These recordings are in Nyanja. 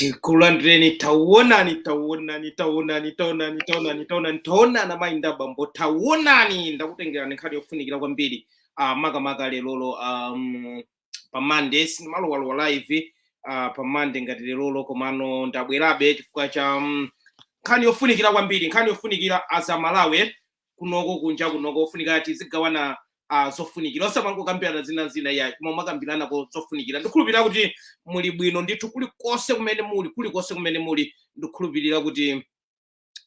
tikulandireni tawonani tawonani tawonani tawonani tawonani tawonani tawonani mayi ndi bambo tawonani ndakutengerani nkhani yofunikira kwambiri uh, makamaka lerolo um, pa monday sindimalowalowa live uh, pa monday ngati lerolo komano ndabwerabe chifukwa cha um, nkhani yofunikira kwambiri nkhani yofunikira as Amalawi kunoko kunja kunoko ofunika tizigawana uh, zofunikira osamangokambirana zina zina yayi koma kumakambiranako zofunikira ndikhulupirira kuti muli bwino ndithu kulikonse kumene muli kulikonse kumene muli ndikhulupirira kuti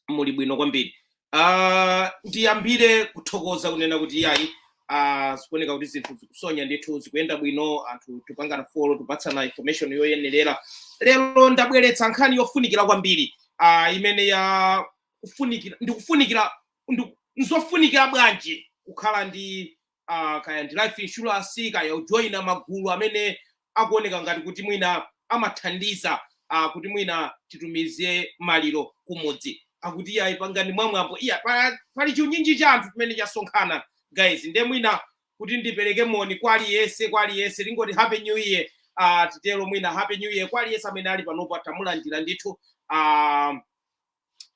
muli bwino kwambiri uh, ndiyambire kuthokoza kunena kuti yayi uh, zikuoneka kuti zinthu zikusonya ndithu zikuyenda bwino anthu tikupangana follow tikupatsana information yoyenerera lero ndabweretsa nkhani yofunikira kwambiri uh, imene ya kufunikira ndikufunikira ndi- nzofunikira bwanji kukhala ndi uh, kaya ndi life insurance kaya kujoyina magulu amene akuoneka ngati kuti mwina amathandiza uh, kuti mwina titumize maliro kumudzi akuti ayi pangani mwamwambo iya pa- pali chinyinji cha anthu chimene chasonkhana guys nde mwina kuti ndipereke moni kwa aliyense kwa aliyense ndingoti happy new year uh, titero mwina happy new year kwa aliyense amene ali panopo tamulandira ndithu uh,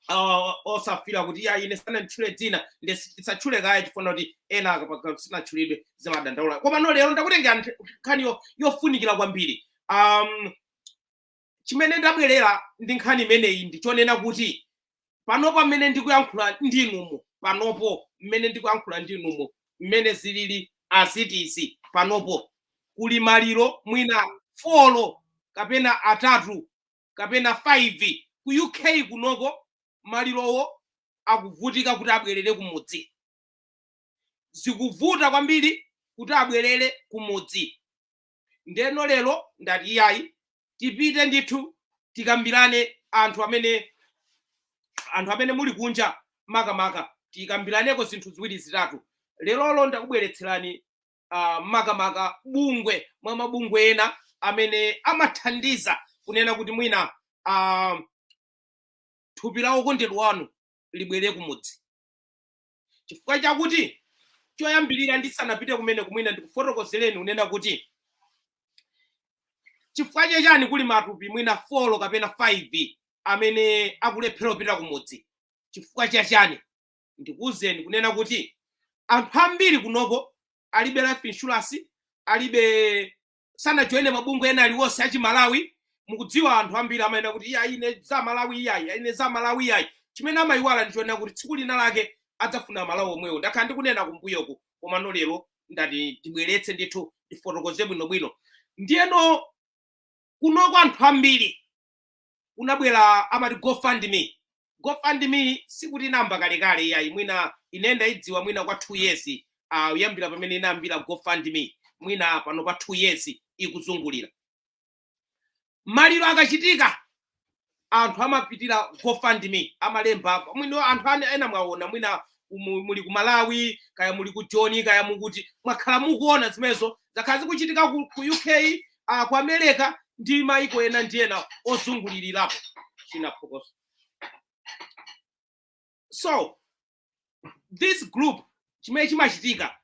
uh, osafuna kuti ya ine sananditchule dzina nde si- tisatchule kaye chifukwa choti ena akangokhala sanatchulidwe amadandaula komano lero ndakutengerani nthe- nkhani yo- yofunikira kwambiri um, chimene ndabwerera ndi nkhani imeneyi ndichonena kuti panopo mmene ndikuyankhula ndi inumu panopo mmene ndikuyankhula ndi inumu mmene zilili as it is panopo kuli maliro mwina folo kapena atatu kapena 5 ku UK kunoko malirowo akuvutika kuti abwerere kumudzi zikuvuta kwambiri kuti abwerere kumudzi ndeno lero ndati iyayi tipite ndithu tikambirane anthu amene anthu amene muli kunja makamaka tikambiraneko zinthu ziwiri zitatu lerolo ndakubweretserani uh, makamaka bungwe mwa mabungwe ena amene amathandiza kunena kuti mwina uh, thupi la okondedwa wanu libwere kumudzi chifukwa chakuti choyambirira ndisanapite kumeneku mwina ndikufotokozereni kunena kuti chifukwa chachani kuli matupi mwina folo kapena 5 amene akulephera kupita kumudzi chifukwa chachani ndikuuzeni kunena kuti anthu ambiri kunoko alibe life insurance alibe sanajoine mabungwe ena aliwonse achimalawi mukudziwa anthu ambiri amanena kuti iya ine za malawi iyayi ine za malawi iyayi chimene amayiwala ndichonena kuti tsiku lina lake adzafuna malawi omwewo ndakhala ndikunena kumbuyoku koma no lero ndati ndibweretse ndithu ndifotokoze bwinobwino ndiyeno kunoko anthu ambiri kunabwera amati gofundme gofundme sikuti inayamba kalekale iyayi mwina ine ndaidziwa mwina kwa two years uh, kuyambira pamene inayambira gofundme mwina pano pa two years ikuzungulira maliro akachitika anthu amapitira gofundme amalembapo anthu ane- ena mwaona mwina muli ku malawi kaya muli ku joni kaya muli kuti mwakhala mukuona zimenezo zakhala zikuchitika ku, ku uk ah, ku america ndi maiko ena ndi ena ozungulirirapo chinaphuka so this group chimene chimachitika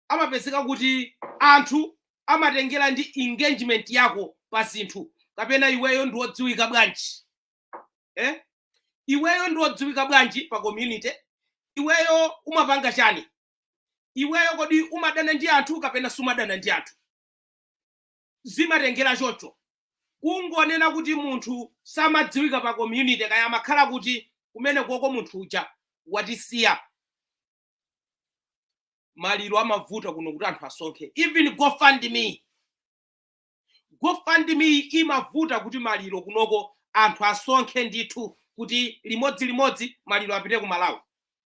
amapezeka kuti anthu amatengera ndi engagement yako pa zinthu kapena iweyo ndi wodziwika bwanji eh? iweyo ndi wodziwika bwanji pa community iweyo umapanga chani iweyo kodi umadana ndi anthu kapena sumadana ndi anthu zimatengera choncho kungonena kuti munthu samadziwika pa community kaya amakhala kuti kumene koko munthu uja watisiya maliro amavuta kuno kuti anthu asonkhe even gofundme gofundme imavuta kuti maliro kunoko anthu asonkhe ndithu kuti limodzi limodzi maliro apite ku malawi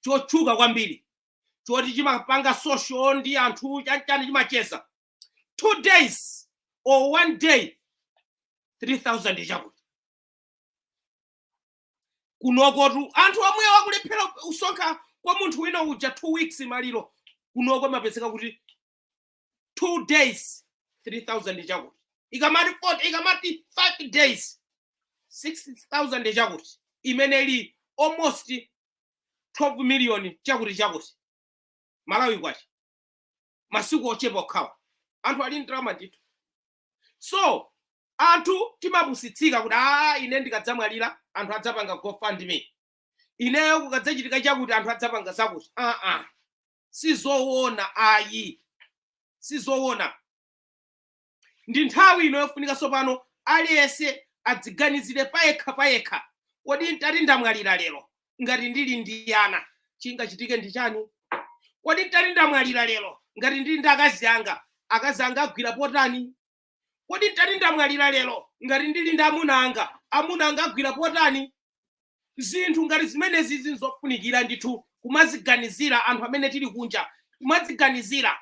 chotchuka kwambiri choti chimapanga social ndi anthu chani chimacheza two days or one day 3000 chakuti kunokotu anthu omwe akulephera kusonkha kwa munthu wina uja two weeks maliro kunoko mapezeka kuti two days 3000 chakuti ikamati 40 ikamati 5 days 6000 chakuti imene ili almost 12 million chakuti chakuti malawi kwacha masiku ochepa okhawo anthu ali ndalama yatha so anthu timapusitsika kuti a ine ndikadzamwalira anthu adzapanga gofundme ineyo kukadzachitika chakuti anthu adzapanga zakuti aa sizowona ayi sizowona ndi nthawi ino yofunika tsopano aliyense adziganizire payekha payekha kodi ntati ndamwalira lero ngati ndili ndi ana chingachitike ndi chani kodi ntati ndamwalira lero ngati ndili ndi akazi anga akazi anga agwira pati kodi nditati ndamwalira lero ngati ndili ndi amuna anga amuna anga agwira potani zinthu ngati zimenezi zinzofunikira ndithu kumaziganizira anthu amene tili kunja kumaziganizira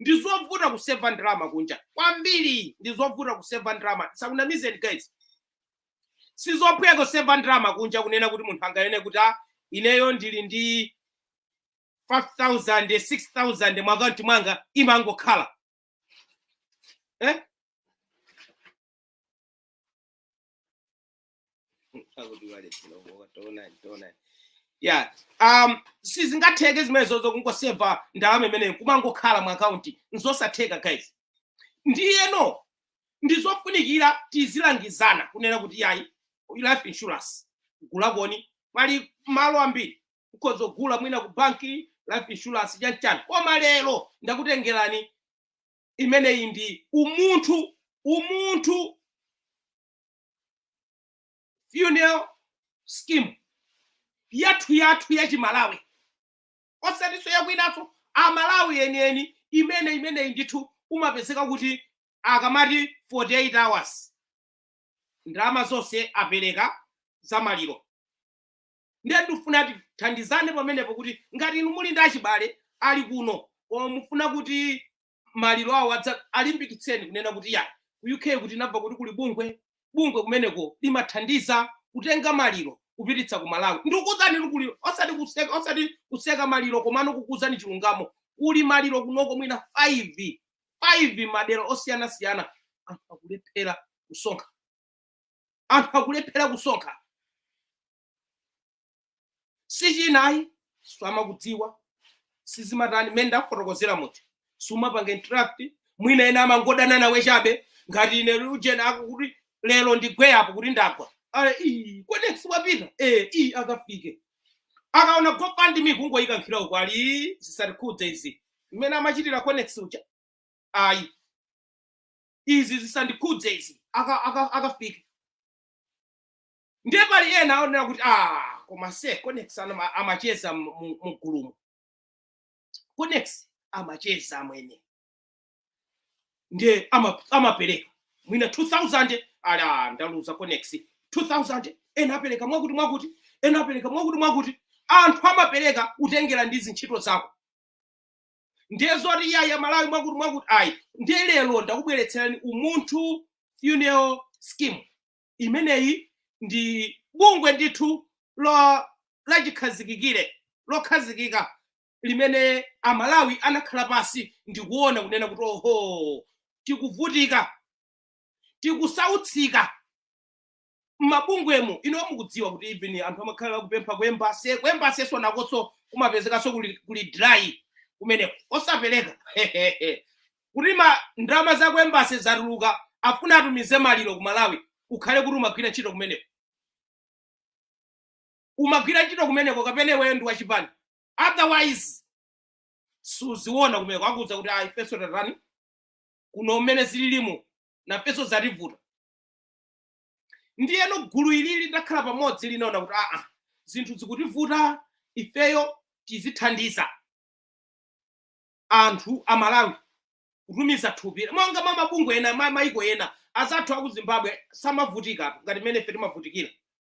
ndi zovuta kuseva ndalama kunja kwambiri ndi zovuta kuseva ndalama ndisakunamizeni guys sizophweka kuseva ndalama kunja kunena kuti munthu anganene kuti "Ah, ineyo ndili ndi 5000 6000 mu akaunti mwanga imangokhala Eh? yeah um sizingatheke zimenezo zokungoseva ndalama imeneyo kumangokhala mu akaunti nzosatheka guys ndiyeno ndizofunikira tizilangizana kunena kuti yayi life insurance gulakoni pali malo ambiri ukhoza kugula mwina ku banki life insurance chanchani koma lero ndakutengerani imeneyi ndi Umunthu Umunthu funeral scheme yathu yathu ya chimalawi osatiso yakwinaso amalawi enieni imene imeneyi ndithu umapezeka kuti akamati 48 hours ndalama zonse apereka za maliro Ndiye ndifuna tithandizane pamenepo kuti ngati inu muli ndi achibale ali kuno koma mufuna kuti maliro awo adza alimbikitseni kunena kuti ya ku UK kuti nabva kuti kuli bungwe, bungwe kumeneko limathandiza kutenga maliro kupititsa ku Malawi ndikuzani kuli osati kuseka osati kuseka maliro komano kukuzani chilungamo kuli maliro kunoko mwina 5 5 madera osiyana siyana anthu akulephera kusonkha anthu akulephera kusonkha sichinayi samakudziwa sizimatani mmene ndakufotokozera muti sumapanga interact mwina ena amangodana nawe chabe ngati ine ujeni ako kuti lero ndigwe apo kuti ndagwa ale ii kodi siwapita eh ii akafike akaona Gopani mikungo ikankhira uko ali "Ii, zisandikhudze izi mmene amachitira conex uja ayi izi zisandikhudze izi aka- aka- akafika ndiye pali ena aonera kuti ah koma se conex ana- amacheza mu- mu- mugulumu conex amacheza amwene ndiye ama- amapereka mwina 2000 ali ndaluza conex 2000 ena apereka mwakuti mwakuti ena apereka mwakuti mwakuti anthu amapereka kutengera ndi zintchito zako ndiye zoti iyayi amalawi mwakuti mwakuti ayi ndiye lero ndakubweretserani umunthu funeral scheme imeneyi ndi bungwe ndithu lachikhazikikire lokhazikika limene amalawi anakhala pansi ndikuona kunena kuti oho tikuvutika tikusautsika mmabungwemo inuyo mukudziwa kuti even anthu amakhala akupempha ku embassy ku embassyso nakoso kumapezekaso kuli, kuli dry kumeneko osapereka kuti ma ndalama za ku embassy zatuluka afuna atumize maliro ku malawi ukhale kuti umagwira ntchito kumeneko umagwira ntchito kumeneko kapena iweyo ndi wachipani otherwise suziona kumeneko akuuza kuti ayi feso tatani kuno mmene zililimo nafeso zativuta ndiyeno gulu ili litakhala pamodzi linaona kuti aa zinthu zikutivuta ifeyo tizithandiza anthu a malawi kutumiza thupi monga mwa mabungwe ena ma- maiko ena azathu aku zimbabwe samavutikatu ngati mmene ife timavutikira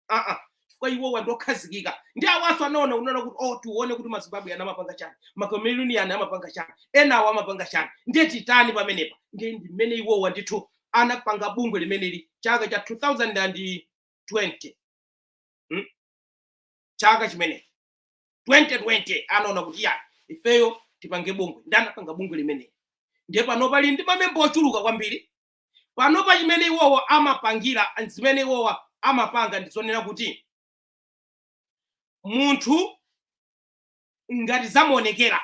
aa chifukwa iwowa ndi okhazikika ndiye awanso anaona anaona kuti oh tione kuti mazimbabwe aja amapanga chani macameroon aja amapanga chani enawo amapanga chani ndiye titani pamenepa ndiye ndi mmene iwowa ndithu anapanga bungwe limeneli chaka cha 2020 hmm? chaka chimenechi 2020 anaona kuti ya ifeyo tipange bungwe ndi anapanga bungwe limeneli ndiye pano pali ndi mamemba ochuluka kwambiri panopa chimene iwowa amapangira zimene iwowa amapanga ndi zonena kuti munthu ngati zamuonekera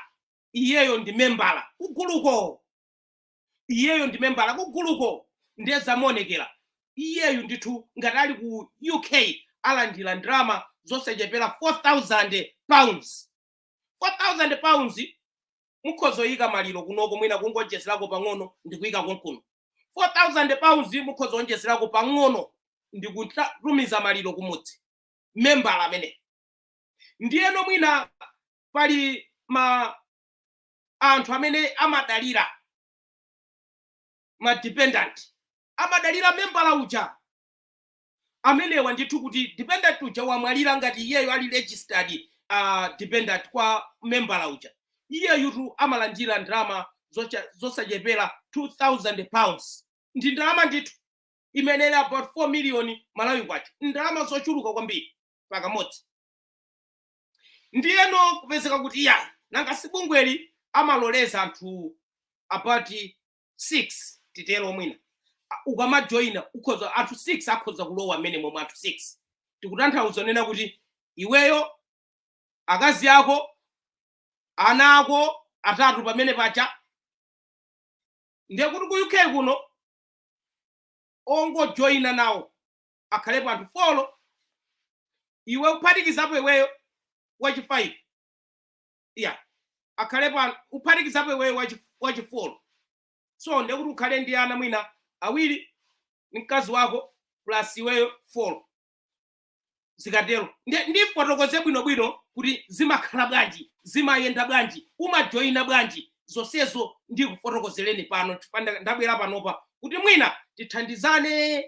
iyeyo ndi membala kuguluko iyeyo ndi membala kuguluko ndiye zamuonekera iyeyu ndithu ngati ali ku uk alandira ndalama zosachepera 4000 pounds £4000 mukhoza kuyika maliro kunoko mwina kungowonjezerako pang'ono ndi kuyika konkuno. £4000 mukhoza kuwonjezerako pang'ono ndi kukatumiza maliro kumudzi, membala ameneyo. Ndiyeno mwina pali ma anthu amene amadalira ma dependant, amadalira membala uja. amenewa ndithu kuti dependent uja wamwalira ngati iyeyo ali registered uh, dependent kwa membala uja iyeyutu amalandira ndalama zocha- zosachepera 2000 pounds ndi ndalama ndithu imene ili about 4 million malawi kwacha ndalama zochuluka kwambiri pakamodzi ndiyeno kupezeka kuti ya nanga sibungweli amaloleza anthu about 6 titero mwina A- ukamajoyina ukhoza anthu 6 akhoza kulowa mmenemo mwa anthu 6 tikutanthauza kunena kuti iweyo akazi ako ana ako atatu pamenepaja ndiye kuti ku UK kuno ongojoyina nawo akhalepo anthu folo iwe kuphatikizapo iweyo wachifayive ya akhalepo ano kuphatikizapo iweyo wachi- wachifolo so ndiye kuti ukhale ndi ana mwina awiri ndi mkazi wako plus iweyo folo zikatero Ndi- ndifotokoze bwinobwino kuti zimakhala bwanji zimayenda bwanji umajoyina bwanji zonsezo ndikufotokozereni pano chifukwa nda- ndabwera panopa kuti mwina tithandizane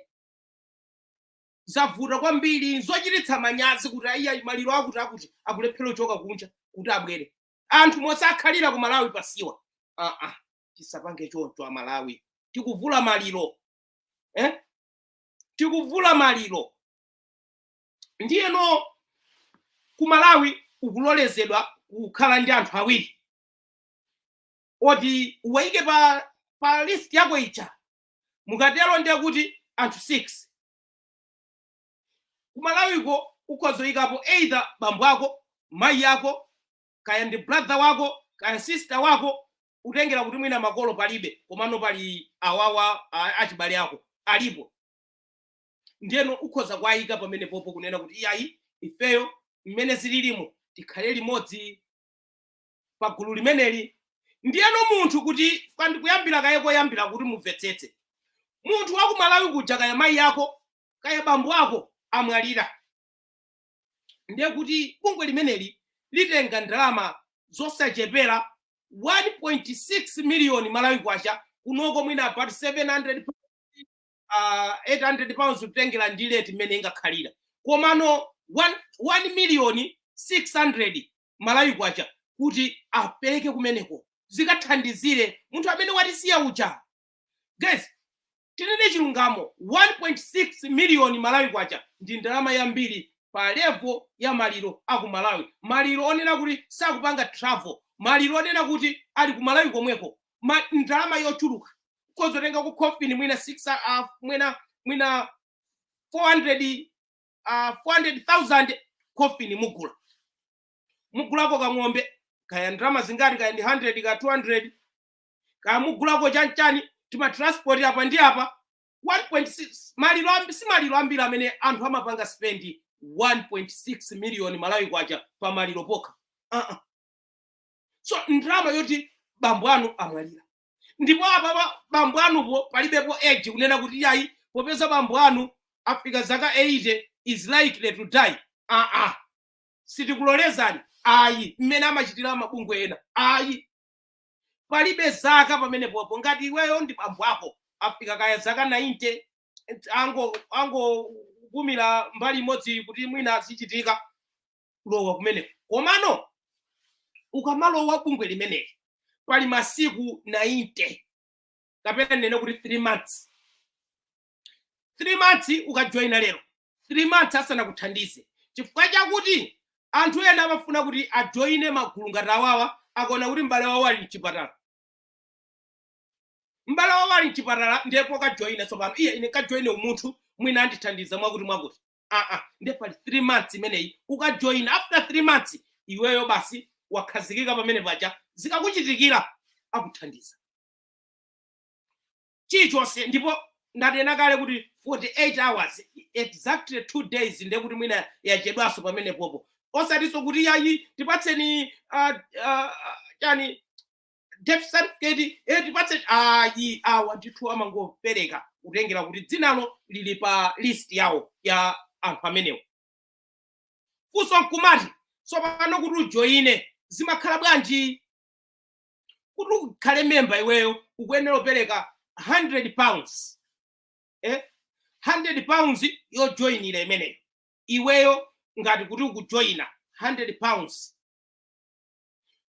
zavuta kwambiri nzochititsa manyazi kuti aiya maliro akuti akuti akulephera kuchoka kunja kuti abwere anthu osakhalira ku malawi pasiwa aa uh -uh. tisapange choncho amalawi tikuvula maliro eh? tikuvula maliro ndiyeno ku malawi ukulolezedwa kukhala ndi anthu awiri oti uwaike pa, pa list yako ija mukatero ndiye kuti anthu 6 kumalawiko ukhoza kuyikapo either bambo ako mayi ako kaya ndi brother wako kaya sister wako kutengera kuti mwina makolo palibe komano pali awawa a- achibale ako alipo ndiyeno ukhoza kuwayika pamenepopo kunena kuti iyayi ifeyo mmene zililimu tikhale limodzi pa gulu limeneli ndiyeno munthu kuti chifukwa ndikuyambira kaye koyambira kuti mumvetsetse munthu wa ku malawi kuja kaya mayi ako kaya bambo ako amwalira ndiye kuti bungwe limeneli litenga ndalama zosachepera 1.6 miliyoni malawi kwacha kunoko mwina about 700 pounds, uh, 800 pounds kutengera ndi leti mmene ingakhalira komano 1 miliyoni 600 malawi kwacha kuti apereke kumeneko zikathandizire munthu amene watisiya uja guys tinene chilungamo 1.6 miliyoni malawi kwacha ndi ndalama yambiri pa levo ya maliro a ku malawi maliro onena kuti sakupanga travel maliro onena kuti ali ku malawi komweko ma, ndalama yochuluka kuzotenga ku coffin mwina 6 uh, mwina mwina 400 ah, 400,000 coffin mugula mugulako kang'ombe kaya ndalama zingati kaya ndi 100 kaya 200 kaya mugulako chanchani timatransport apa ndi apa 1.6 maliro ambi si maliro ambiri amene anthu amapanga spendi 1.6 miliyoni malawi kwacha pa maliro pokha uh -uh. so ndalama zoti bambo anu amwalira ndipo apapa bambo anuwo palibepo age limit kunena kuti yayi popeza bambo anu afika zaka 80 is likely to die aa sitikulolezani ayi mmene amachitira mabungwe ena ayi palibe zaka pamene popo ngati iweyo ndi bambo ako afika kaya zaka 90 ango angopumira mbali imodzi kuti mwina azichitika kulowa kumeneko komano ukamalowa bungwe limeneli pali masiku 90 kapena ndinene kuti 3 months 3 months ukajoyina lero 3 months asanakuthandize chifukwa chakuti anthu ena amafuna kuti ajoyine magulu ngati awawa akaona kuti m'bale wawo ali mchipatala m'bale wawo ali mchipatala ndipo akajoyina tsopano iye ine kajoyine umunthu mwina andithandiza mwakuti mwakuti aa nde pali 3 months imeneyi ukajoyina after 3 months iweyo basi wakhazikika pamene paja zikakuchitikira akuthandiza chilichonse ndipo ndanena kale kuti 48 hours exactly 2 days ndiye kuti mwina yachedwanso pamene popo osatinso kuti yayi tipatseni ah, ah, chani death certificate eh, tipatse ayi awa ndithu amangopereka kutengera kuti dzinalo lili pa list yawo ya anthu amenewo funso n'kumati tsopano kuti ujoyine zimakhala bwanji kuti ukhale memba iweyo ukuyenera kupereka 100 pounds eh? 100 pounds yojoyinira imeneyo iweyo ngati kuti ukujoyina 100 pounds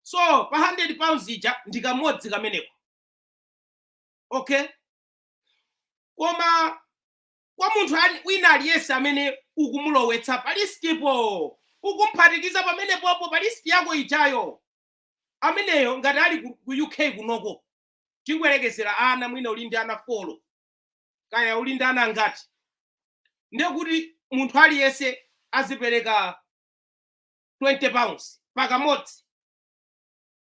so pa 100 pounds ija ndi kamodzi komweko okay koma kwa munthu ali- wina aliyense amene ukumulowetsa pa listipo ukumphatikiza pamene popo pa listi yako ijayo ameneyo ngati ali ku, ku uk kunoko tingoyerekezera ana mwina uli ndi ana folo kaya uli ndi ana angati ndekuti munthu aliyense azipereka 20 pounds pakamodzi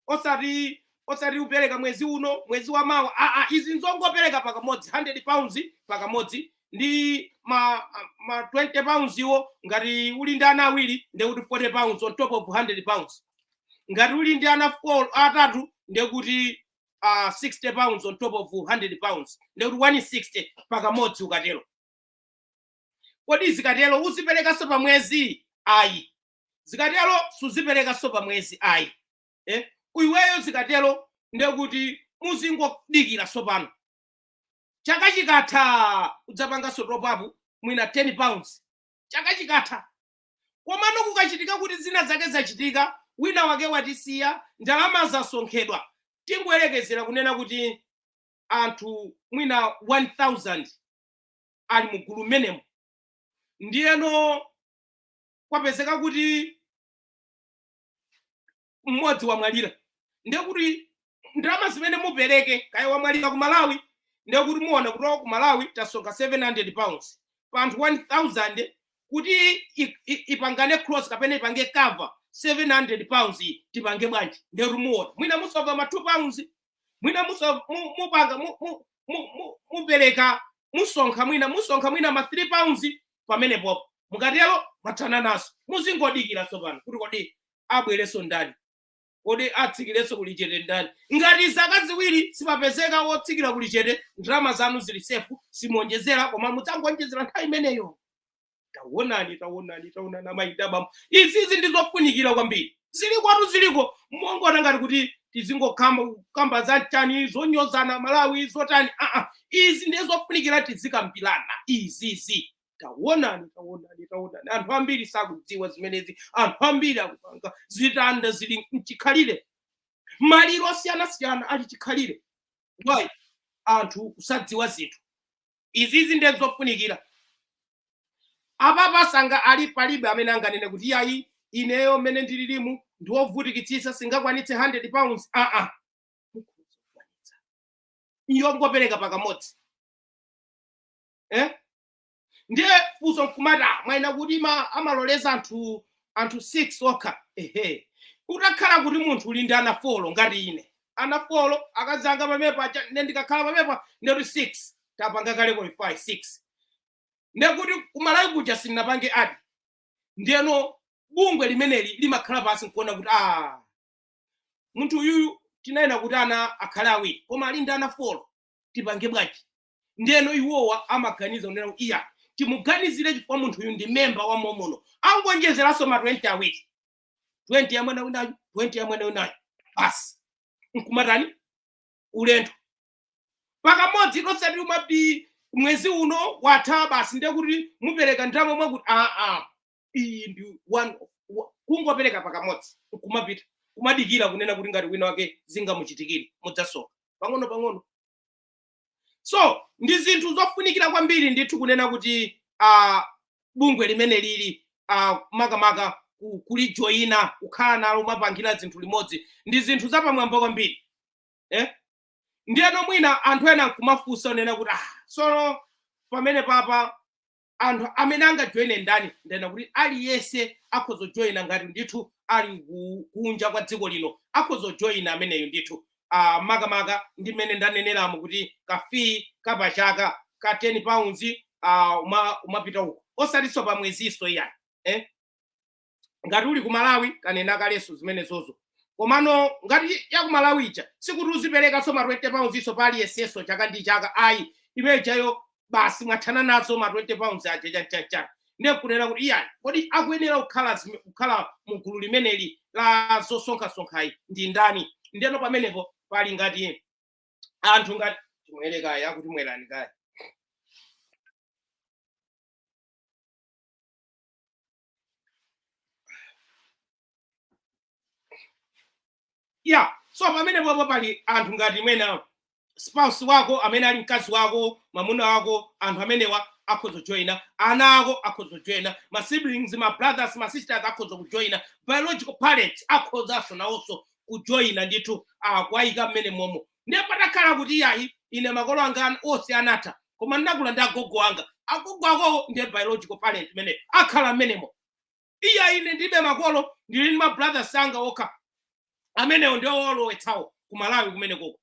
osati osati upereka mwezi uno mwezi wa mawa aa izi nzongopereka pakamodzi 100 pounds pakamodzi ndi ma, ma 20 pounds iwo ngati uli ndi ana awiri ndekuti 40 pounds on top of 100 pounds ngati uli ndi ana four- atatu ndekuti uh, 60 pounds on top of 100 pounds ndekuti 160 pakamodzi ukatero kodi zikatero uziperekanso pa mwezi ayi zikatero suziperekanso pa mwezi ayi eh? iweyo zikatero ndekuti muzingodikira tsopano chaka chikatha udzapanganso topapu mwina 10 pounds chaka chikatha komano kukachitika kuti zina zake zachitika wina wake watisiya ndalama zosonkhedwa tingoyerekezera kunena kuti anthu mwina 1000 ali mu gulu mmenemo ndiyeno kwapezeka kuti mmodzi wamwalira ndiye kuti ndalama zimene mupereke kaya wamwalira ku malawi ndiye kuti muona kuti wa ku malawi tasonkha 700 pounds pa anthu 1000 kuti i- i- ipangane close kapena ipange cover 700 pounds iyi tipange bwanji ndiye kuti muona mwina musonkha ma 2 pounds mwina muso- mu- mupanga mu- mu- mu- mu- mupereka musonkha mwina musonkha mwina ma 3 pounds pamenepo mukatero mwathana nazo muzingodikira tsopano kuti kodi abwerenso ndani kodi atsikirenso kuli chete ndani ngati zaka ziwiri sipapezeka wotsikira kuli chete ndalama zanu zili sefu simuonjezera koma mudzangowonjezera nthawi imeneyo tawonani tawonani tawonani amayi ndi abambo izizi ndi zofunikira kwambiri ziliko anthu ziliko musangoona ngati kuti tizingokamba kukamba zotani zonyozana malawi zotani aa izi ndiye zofunikira tizikambirana izizi tawonani tawonani tawonani anthu ambiri sakudziwa zimenezi anthu ambiri akupanga zitanda zili mchikhalire maliro osiyanasiyana ali chikhalire ayi anthu kusadziwa zinthu izizi nde nzofunikira apapa sanga ali palibe amene anganene kuti yayi ineyo mmene ndililimu ndiwovutikitsitsa sindingakwanitse 100 pounds aa yongopereka pakamodzi eh? ndiye funso nkumati "Ah, mwanena kuti ma- amaloleza anthu anthu 6 okha ehe utakhala kuti munthu uli ndi ana folo ngati ine ana folo akazi anga pamene paja ne ndikakhala pamenepa ndekuti 6 tapanga kale qualify 6 ndekuti kumalawi kuja sindinapange add ndeno bungwe limeneli limakhala pansi nkuona kuti ah munthu uyuyu tinanena kuti ana akhale awiri koma ali ndi ana folo tipange bwanji ndeno iwowa amaganiza kunena kuti iya timuganizire chifukwa munthu uyu ndi memba wa momuno angonjezeranso ma 20 awiri 20 ya mwana winayu 20 ya mwana winayu basi nkumatani ulendo pakamodzi osati umati mwezi uno watha basi ndiye kuti mupereka ndalama mwakuti aa iyi ndi one wa- kungopereka pakamodzi nkumapita kumadikira kunena kuti ngati wina wake zingamuchitikire mudzasonkha pang'ono pang'ono so ndi zinthu zofunikira kwambiri ndithu kunena kuti uh, bungwe limene lili uh, makamaka ku- kulijoyina kukhala nalo kumapangira zinthu limodzi ndi zinthu zapamwamba kwambiri eh? ndiyeno mwina anthu ena nkumafunsa kunena kuti ah, tsono pamene papa anthu amene angajoine ndani ndanena kuti aliyense akhoza kujoina ngati ndithu ali ku- kunja kwa dziko lino akhoza kujoina ameneyo ndithu Ah, makamaka ndi mmene ndaneneramo kuti kafii kapachaka ka 10 pounds ah, uma- umapita uko osatinso pa mwezinso iyayi eh? ngati uli ku malawi tanena kalenso zimenezozo komano ngati ya ku malawi ija sikuti uziperekanso ma 20 pounds nso pa aliyensenso chaka ndi chaka ayi imene ijayo basi mwathana nazo ma 20 pounds aja chanchanchan ndiye kunena kuti iyayi kodi akuyenera kukhala zime- kukhala mu gulu limeneli la zosonkhasonkhayi ndi ndani ndeno pamenepo pali ngati anthu ngati timwere kaye akuti mwerani kaye ya so pamene popo pali anthu ngati mwina spouse wako amene ali mkazi wako mwamuna wako anthu amenewa akhoza kujoyina ana ako akhoza kujoyina ma siblings ma brothers ma sisters akhoza kujoyina biological parents akhozanso nawonso kujoyina ndithu nkuwayika mmenemomo ndiye patakhala kuti yayi ine makolo anga onse anatha koma ndinakula ndi agogo anga agogo akowo ndiye biological parent imeneyo akhala mmenemo iyayi ine ndilibe makolo ndili ndi mabrothers anga okha amenewo ndiwo owalowetsawo ku malawi kumenekoko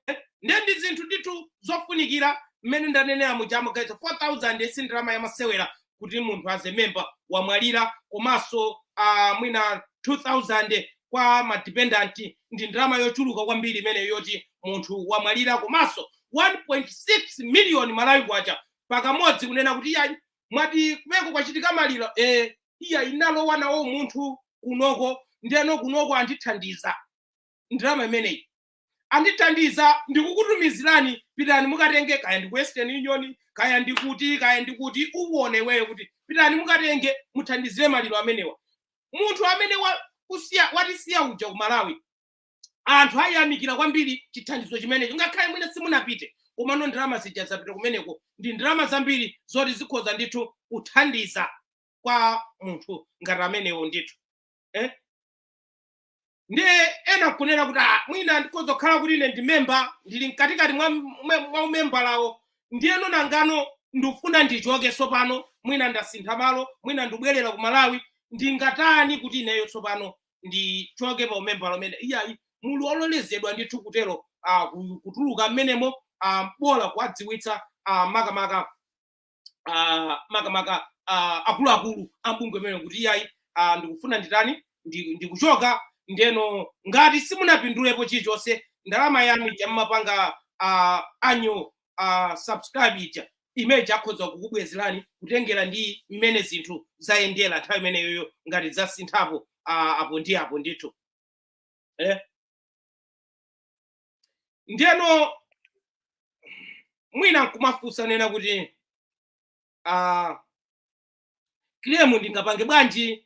Eh, ndiye ndi zinthu ndithu zofunikira mmene ndanenera muja amagaitsa 4000 si ndalama yamasewera kuti munthu as a member wamwalira komanso uh, mwina 2000 kwa madependent ndi ndalama yochuluka kwambiri imeneyo yoti munthu wamwalira komanso 1.6 miliyoni malawi kwacha pakamodzi kunena kuti iyayi mwati kumeneko kwachitika maliro eh, iyayi ndinalowa nawo munthu kunoko ndeno kunoko andithandiza ndalama imeneyi andithandiza ndikukutumizirani pitani mukatenge kaya ndi ku western union kaya ndi kuti kaya ndi kuti uwone iweyo kuti pitani mukatenge muthandizire maliro amenewa munthu amene wa- kusiya- watisiya uja ku malawi anthu ayamikira kwambiri chithandizo chimenecho ngakhale mwina simunapite komano ndalama zija zapita kumeneko ndi ndalama zambiri zoti zikhoza ndithu kuthandiza kwa munthu ngati amenewo ndithu eh? ndiye ena nkunena kuti "Ah, mwina ndikhoza kukhala kuti ine ndi memba ndili mkatikati mwa mwa- mwa umembalawo ndiyeno nangano ndikufuna ndichoke tsopano mwina ndasintha malo mwina ndibwerera ku malawi ndingatani kuti ineyo tsopano ndichoke pa umembala umene iyayi muli ololezedwa ndithu kutero ah, ku- kutuluka mmenemo bola kuwadziwitsa ah, makamaka ah, makamaka ah, akuluakulu a bungwe imene kuti iyayi ah, ndikufuna nditani ndi- ndikuchoka ndeno ngati simunapindulepo chilichonse ndalama yanu ija mmapanga ah, annual ah, subscribe ija imene akhoza kukubwezerani kutengera ndi mmene zinthu zayendera nthawi imeneyoyo ngati zasinthapo ah, apo ndi apo ndithu eh? ndiyeno mwina nkumafunsa kunena kuti uh, claim ndingapange bwanji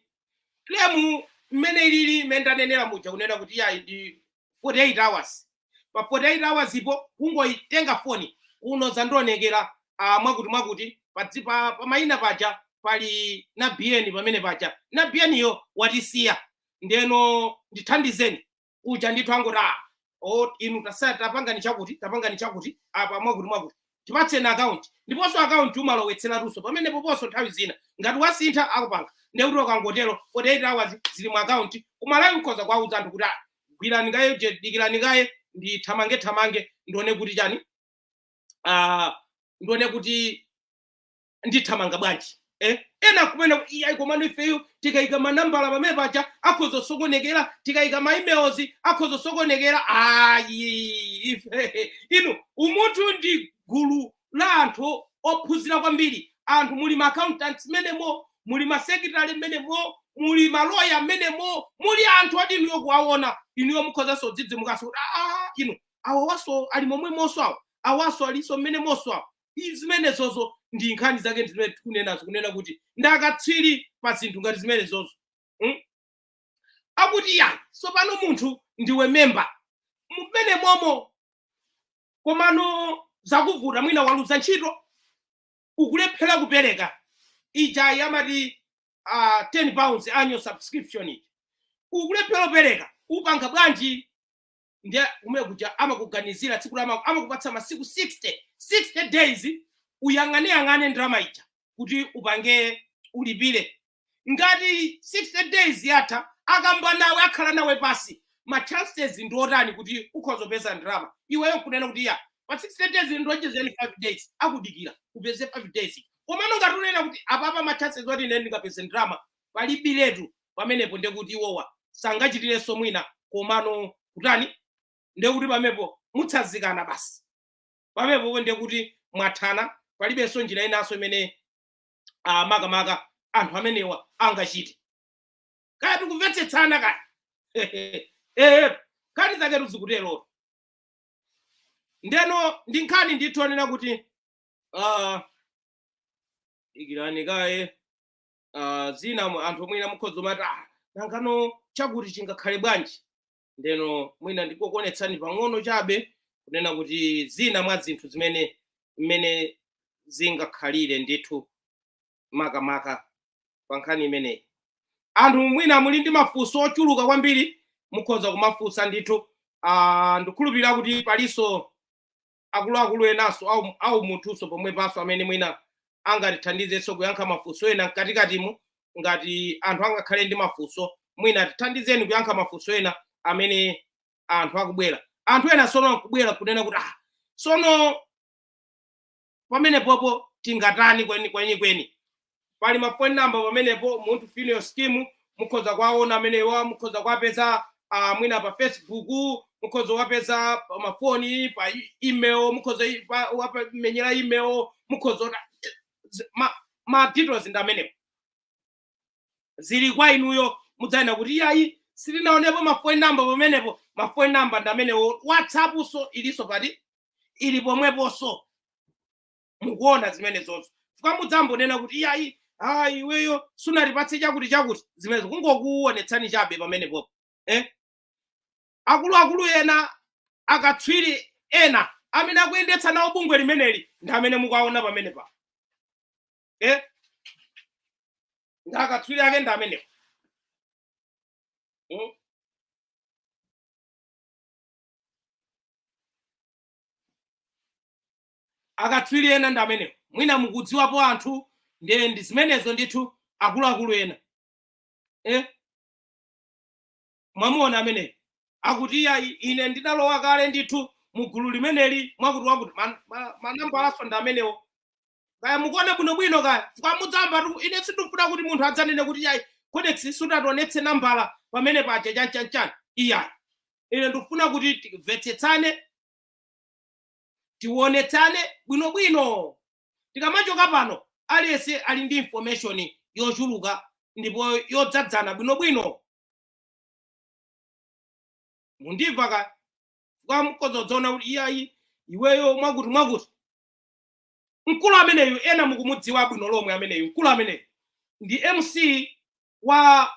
claim mmene ilili mmene ndanenera muja kunena kuti yayi ndi 48 hours pa 48 hours po kungoitenga foni kuno zandionekera uh, mwakuti mwakuti padzi pa, pa mayina paja pali na bn pamene paja na bn yo watisiya ndeno ndithandizeni kuja ndithu angoti a o inu tasa- tapangani chakuti tapangani chakuti apa mwakuti mwakuti tipatseni akaunti ndiponso akaunti umalowetseratunso pamenepo poponso nthawi zina ngati wasintha akupanga ndekuti ukangotero 48 hours zili mu akaunti kumalawi mkhoza kwauza anthu kuti "Ah, gwirani kaye je- dikirani kaye ndithamange thamange ndione kuti chani ah, ndione kuti ndithamanga bwanji eh? ena nkumanena iyayi komano ifeyo tikayika manambala pamene paja akhoza kusokonekera tikayika ma emails akhoza kusokonekera ayi ife inu umunthu ndi gulu la anthu ophunzira kwambiri anthu muli ma accountants mmenemo muli ma secretary mmenemo muli maloya mmenemo muli anthu oti inuyo kuwaona inuyo mukhozanso kudzidzimukanso kuti aa inu awawaso ali momwemonso awo awaso alinso mmenemonso awo I- zimenezozo ndi nkhani zake ndi zimene tikunenazo kunena kuti ndi akatswiri pa zinthu ngati zimenezozo mm? akuti chani tsopano munthu ndiwe memba mmenemomo komano zakuvuta mwina waluza ntchito ukulephera kupereka ija amati uh, 10 pounds annual subscription ija ukulephera kupereka upanga bwanji ndiye kumene kuja amakuganizira tsiku la ama- amakupatsa masiku 60 60 days uyang'aneyang'ane ndalama ija kuti upange ulipire ngati 60 days yatha akamba nawe akhala nawe pansi ma chances ndi otani kuti ukhoza kupeza ndalama iweyo nkunena kuti ya pa 60 days ndionjezereni 5 days akudikira upeze 5 days komano ngati unena kuti apapa ma chances oti ine ndingapeze ndalama palibiletu pamenepo ndekuti iwowa sangachitirenso mwina komano kutani ndekuti pamepo mutsazikana basi pamepopo ndekuti mwathana palibenso njira inanso imene ah, makamaka anthu amenewa angachite kaya tikumvetsetsana kaya eh, nkhani zaketu zikuterotu ndeno ndi nkhani ndithu onena kuti ah, ikirani kaye uh, zina mu- anthu mwina mukhoza umati ah, nangano chakuti chingakhale bwanji ndeno mwina ndikokuonetsani pang'ono chabe kunena kuti zina mwa zinthu zimene mmene zingakhalire ndithu makamaka pa nkhani imeneyi anthu mwina muli ndi mafunso ochuluka kwambiri mukhoza kumafunsa ndithu uh, ndikhulupirira kuti palinso akuluakulu enanso au- aumunthunso pomwepanso amene mwina angatithandizenso kuyankha mafunso ena mkatikatimu ngati anthu angakhale ndi mafunso mwina tithandizeni kuyankha mafunso ena amene anthu akubwera anthu ena sono akubwera kunena kuti ah, sono pamenepopo tingatani kweni kweni kweni pali mafoni namba pamenepo Umunthu funeral scheme mukhoza kuwaona amenewa mukhoza kuwapeza ah, mwina pa facebook mukhoza kuwapeza pa mafoni pa e- email mukhoza i- pa- wapa- menyera email mukhoza ona- z- ma, ma details ndi amenewo zili kwa inuyo mudzanena kuti iyayi sitinaonepo mafoni namba pamenepo mafoni namba ndi amenewo whatsappnso ilinso pati ili pomweponso mukuona zimenezonso chifukwa mudzambanena kuti iyayi ah iweyo sunatipatse chakuti chakuti zimenezo kungokuonetsani chabe pamenepopo eh? akuluakulu ena akatswiri ena amene akuyendetsa nawo bungwe limeneli ndi amene mukuwaona pamene pa eh? ndi akatswiri ake ndi amenewo mm? akatswiri ena ndi amenewo mwina mukudziwapo anthu ndi ndi zimenezo ndithu akuluakulu ena eh? mwamuona ameneyo akuti iyayi ine ndidalowa kale ndithu mu gulu limeneli mwakuti wakuti man- ma- manambalanso ndi amenewo kaya mukuona bwinobwino kaya chifukwa mudzamba tu- ine sindikufuna kuti munthu adzanene kuti iyayi kodexi sunationetse nambala pamene paja chanchanchan iyayi ine ndikufuna kuti timvetsetsane tionetsane bwinobwino tikamachoka pano aliyense ali ndi information yochuluka ndipo yodzadzana bwinobwino mukundimva kapena mukudziona kuti iyayi iweyo mwakuti mwakuti mkulu ameneyu ena mukumudziwa bwino lomwe ameneyu mkulu ameneyu ndi mc wa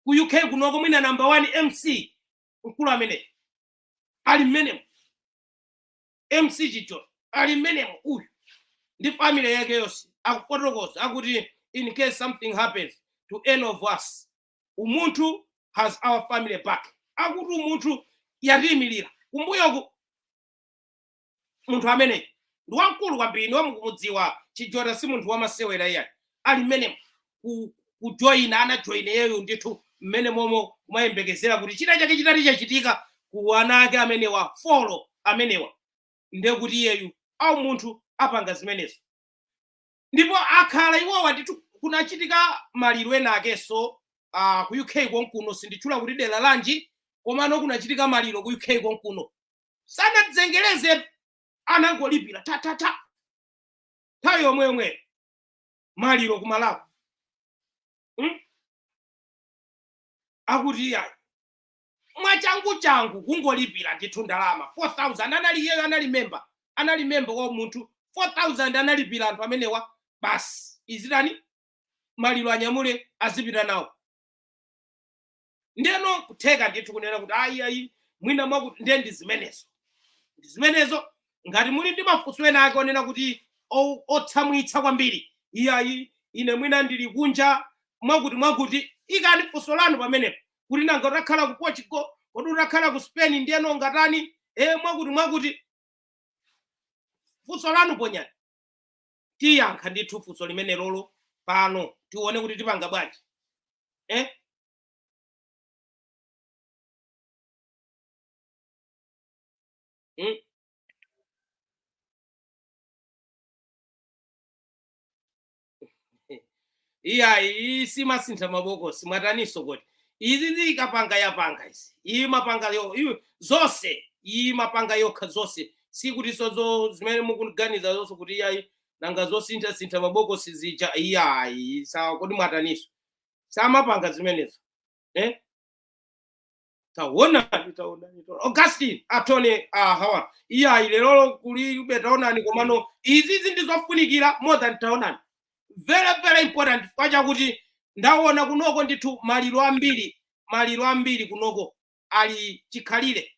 ku uk kunoko mwina namba 1 mc mkulu ameneyu ali mmenemo mc Chijota ali mmenemo uyu ndi family yake yonse akufotokoza akuti in case something happens to any of us umunthu has our family back akuti umunthu yatiyimirira kumbuyoku munthu ameneyo ndi wamkulu kwambiri inu mukumudziwa chijota si munthu wamasewera iyayi ali mmenemo ku- kujoyina anajoyina iyeyo ndithu mmene momo kumayembekezera kuti china chake chitati chachitika ku ana ake amenewa folo amenewa ndiye kuti iyeyu a umunthu apanga zimenezo ndipo akhala iwowa ndithu kunachitika maliro ena akenso uh, ku uk konkuno sinditchula kuti dera lanji komano kunachitika maliro ku uk konkuno sanazengereze anangolipira thathatha nthawi yomwe yomweyo maliro ku malawi Hmm? akuti iyayi mwachanguchangu kungolipira ndithu ndalama 4000 anali iyeyo anali memba anali memba wa umunthu 4000 analipira anthu amenewa basi izitani maliro anyamule azipita nawo ndeno nkutheka ndithu kunena kuti ayi ayi mwina mwakuti nde ndi zimenezo ndi zimenezo ngati muli ndi mafunso ena ake onena kuti o- otsamwitsa kwambiri iyayi ine mwina ndili kunja mwakuti mwakuti ikani funso lanu pamenepo kuti nanga utakhala ku portugal kodi utakhala ku spain ndeno ndingatani e mwakuti mwakuti funso lanu ponyani tiyankha ndithu funso limenelolo pano tione kuti tipanga bwanji eh? mm? Iyayi iyi simasintha mabokosi mwataninso kodi izizi ikapanga yapanga izi iyi imapanga yo iwe zonse iyi imapanga yokha zonse sikutinso izo zimene mukuganizazonso kuti iyayi nanga zosintha sintha mabokosi zija iyayi sawa kodi mwataninso samapanga zimenezo eh? taonani taonani taonani. augustine atone aha iye ayi lerolo kulibe taonani komano izizi ndi zofunikira more than taonani very very important chifukwa chakuti ndaona kunoko ndithu maliro ambiri maliro ambiri kunoko ali chikhalire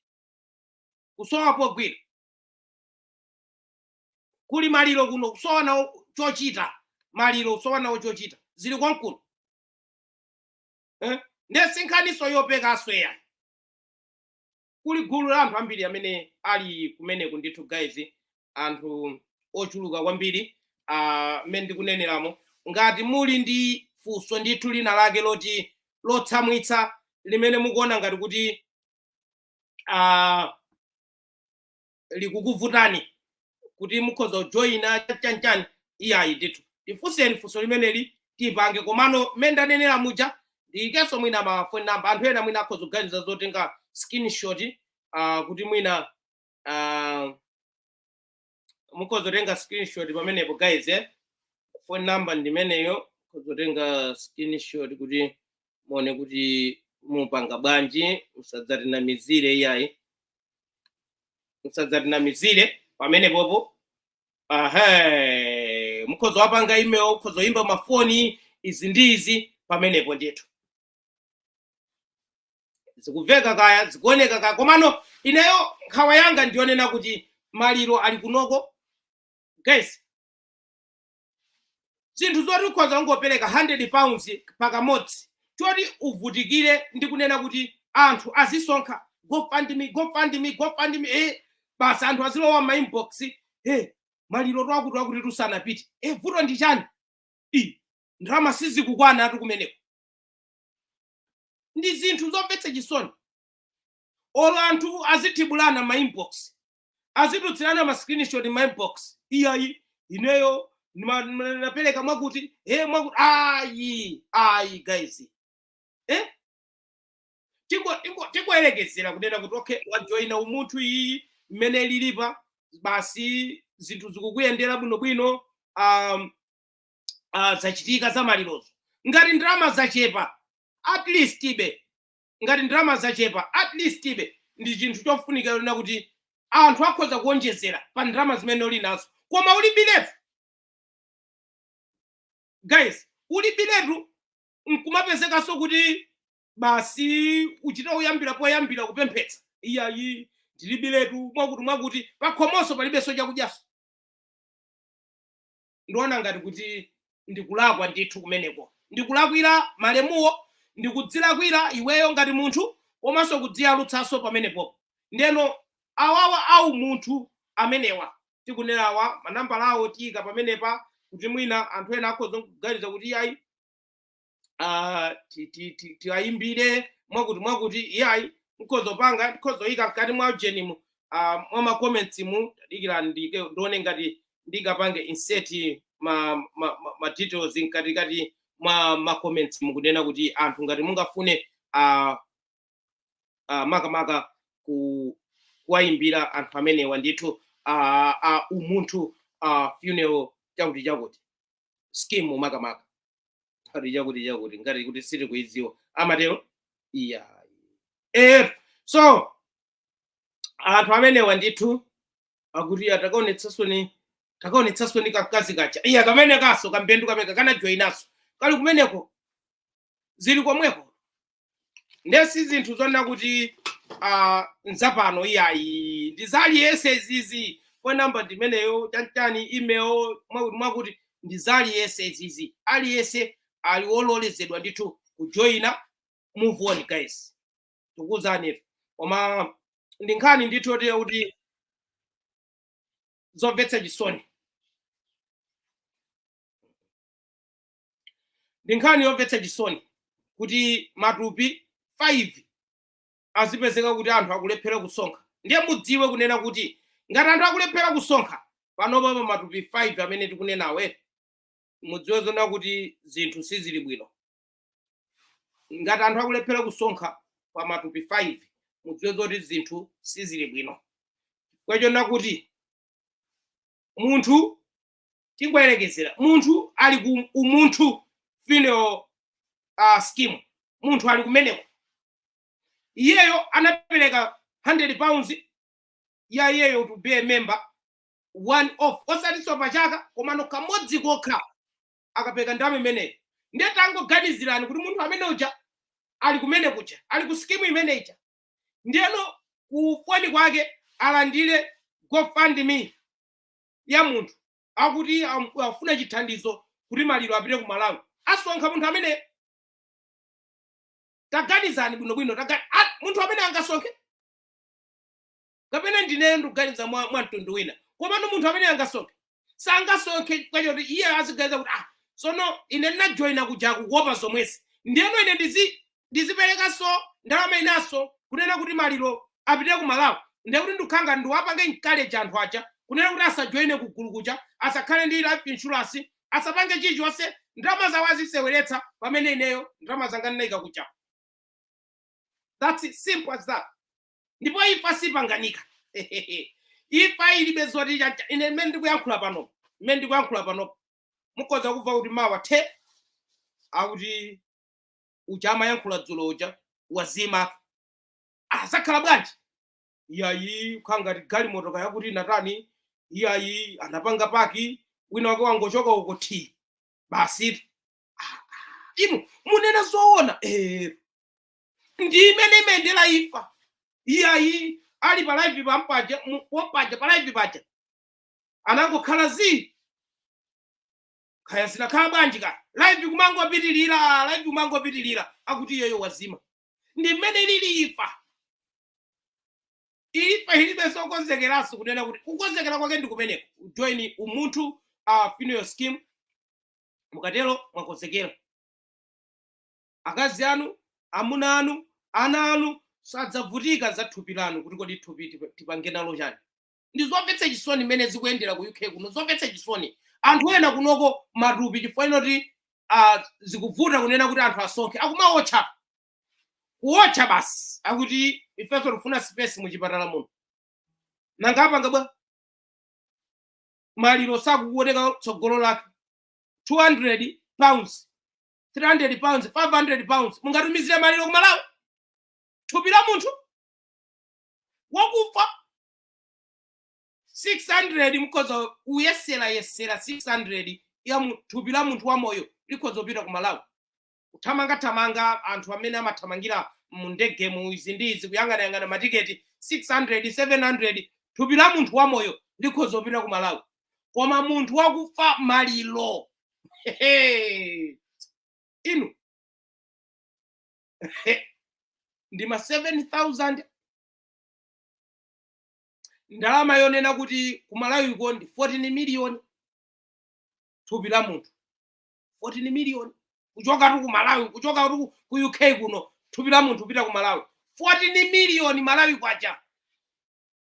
kusowa pogwira kuli maliro kuno kusowa nawo chochita maliro kusowa nawo chochita zili konkuno eh? nde sinkhaniso yopekaso iyayi kuli gulu la anthu ambiri amene ali kumeneku ndithu guys anthu ochuluka kwambiri ah, mmene ndikuneneramo ngati muli ndi funso ndithu lina lake loti lotsamwitsa limene mukuona ngati kuti ah, likukuvutani kuti mukhoza kujoyina chanchani iyayi ndithu tifunseni funso limeneli tipange komano mmene ndanenera muja ndiyikenso mwina mafoni namba anthu ena mwina akhoza kuganiza zotenga screenshot uh, kuti mwina uh, mukhoza kutenga screenshot pamenepo guys eh? phone number ndimeneyo mukhoza kutenga screenshot kuti muone kuti mupange bwanji musadzatinamizire iyayi musadzatinamizire pamenepopo aha mukhoza wapanga email mukhoza oyimba mafoni izi ndi izi pamenepo ndithu zikuveka kaya zikuoneka kaya komano ineyo nkhawa yanga ndiyonena kuti maliro ali kunoko guys zinthu zoti ukhoza kungopereka 100 pounds pakamodzi choti uvutikire ndi kunena kuti anthu azisonkha gofundme gofundme gofundme eh, basi anthu azilowa m'ma inbox eh, maliro a akuti akuti sanapite eh, vuto ndi chani i ndalama sizikukwanatu kumeneko ndi zinthu zomvetsa chisoni olo anthu azithibulana ma inbox azitulutsilana ma screenshot ma inbox iyayi ineyo ndima- ndima- ndapeleka mwakuti eh mwakuti ayi ayi guys eh tingo tingo tingoyerekezera kunena kuti okay wajoyina umunthu iyi mmene ilili pa basi zinthu zikukuyendera bwinobwino um, uh, zachitika za malirozo ngati ndalama zachepa at least ibe ngati ndalama zachepa at least ibe ndi chinthu chofunika ponena kuti anthu akhoza kuonjezera pa ndalama zimene uli nazo koma ulibiretu guys ulibiretu nkumapezekanso kuti basi uchita kuyambira poyambira kupemphetsa iyayi ndilibiretu mwakuti mwakuti pakhomonso palibenso chakudyaso ndiona ngati kuti ndikulakwa ndithu kumeneko ndikulakwira malemuwo ndikudzilakwira iweyo ngati munthu komanso kudziyalutsanso pamenepo ndeno awawa a umunthu amenewa tikunenawa manambala awo tiyika pamenepa kuti mwina anthu ena akhoza kuganiza kuti iyayi ah, ti- ti- ti- tiwayimbire mwakuti mwakuti iyayi nkhoza kupanga nkhoza kuyika mkati mwa ujeni mu ah, mwa macomments-mu dikira ndike ndione ngati ndingapange insert ma, ma, ma, ma details mkatikati mwa macomments-mu kunena kuti anthu ngati mungafune ah, ah, makamaka ku kuwayimbira anthu amenewa ndithu ah, ah, umunthu ah, funeral chakuti chakuti scheme makamaka ati chakuti chakuti ngati kuti sitikuidziwa amatero iya eh so anthu amenewa ndithu akuti ah takaonetsetsani takaonetsetsani kankazi kacha iya kamenekanso kambendu kameneka kanajoyinaso kali kumeneko zili komweko ndiye si zinthu zonena kuti ah, nzapano iyayi ndizaliyese izizi phone number ndimeneyo chantani email mwakuti mwakuti ndizaliyese izizi aliyese ali wololezedwa ndithu kujoyina move on guys tikuuzeni koma ndi nkhani ndithu yotere kuti zomvetsa chisoni ndi nkhani yomvetsa chisoni kuti matupi 5 azipezeka kuti anthu akulephera kusonkha ndiye mudziwe kunena kuti ngati anthu akulephera kusonkha panopa pa matupi 5 amene tikunenawa mudziwe zonena kuti zinthu sizili bwino ngati anthu akulephera kusonkha pa matupi 5 mudziwe zoti zinthu sizili bwino chifukwa chonena kuti munthu tingoyerekezera munthu ali ku umunthu funeral uh, scheme munthu ali kumeneko iyeyo anapereka 100 pounds ya iyeyo to be a member one off osatinso pachaka komano kamodzi kokha akapereka ndalama imeneyo ndiye tangoganizirani kuti munthu amene uja ali kumene kuja ali ku skimu imene ija ndiyeno kufoni kwake alandire gofundme ya munthu akuti am- afuna chithandizo kuti maliro apite ku malawi asonkha munthu ameneyo taganizani bwinobwino taga- a- munthu amene angasonkhe kapena ndineyo ndikuganiza mwa mwa mtundu wina komano munthu amene angasonkhe sangasonkhe chifukwa choti iye aziganiza kuti ah sono ine ndinajoyina kuja kuwopa zomwezi ndiyeno ine ndizi ndiziperekanso ndalama inanso kunena kuti maliro apite ku malawi ndekuti ndikukhala ngati ndiwapange encourage anthu aja kunena kuti asajoine ku gulu kuja asakhale ndi life insurance asapange chilichonse ndalama zawo aziseweretsa pamene ineyo ndalama zanga ndinayika kuja that's it, simple as that ndipo imfa sipanganika imfa ilibe zoti chacha ine mmene ndikuyankhula pano mmene ndikuyankhula pano mukhoza kumva kuti mawa thi akuti uja amayankhula dzulo uja wazima ah, zakhala bwanji iyayi kukhala ngati galimoto kaya kuti natani iyayi anapanga paki wina wake wangochoka uko thi basi Ah, ah, inu munena zoona eh, ndi mmene imayendera imfa iyayi ali pa live pampaja mu- pompaja pa live paja anangokhala zii kaya zinakhala bwanji ka live kumangopitirira live kumangopitirira akuti iyeyo wazima ndi mmene ilili imfa imfa ilibe zokonzekeranso kunena kuti kukonzekera kwake ndi kumeneko join umunthu uh, funeral scheme mukatero mwakonzekera akazi anu amuna anu ana anu sadzavutika za thupi lanu kuti kodi thupi tipa- tipange nalo chani ndi zomvetsa chisoni mmene zikuyendera ku uk kuno zomvetsa chisoni anthu ena kunoko matupi chifukwa chonati uh, zikuvuta kunena kuti anthu asonkhe akumaotcha kuotcha basi akuti ifenso tifuna space muchipatala muno nanga apanga bwa maliro sakuoneka tsogolo lake 200 pounds 300 pounds 500 pounds mungatumizire maliro kumalawi thupi la munthu wakufa 600 mukhoza kuyesera yesera 600 ya mu- thupi la munthu wamoyo likhoza kupita ku malawi kuthamanga thamanga anthu amene amathamangira mu ndege mu izi ndi izi kuyang'anayang'ana matiketi 600 700 thupi la munthu wamoyo likhoza kupita ku malawi koma munthu wakufa maliro Hehe. inu ndi ma 7000 ndalama yonena kuti kumalawiko ndi 14 miliyoni thupi la munthu 14 miliyoni kuchokatu ku malawi kuchokatu ku- ku uk kuno thupi la munthu kupita ku malawi 14 miliyoni malawi kwacha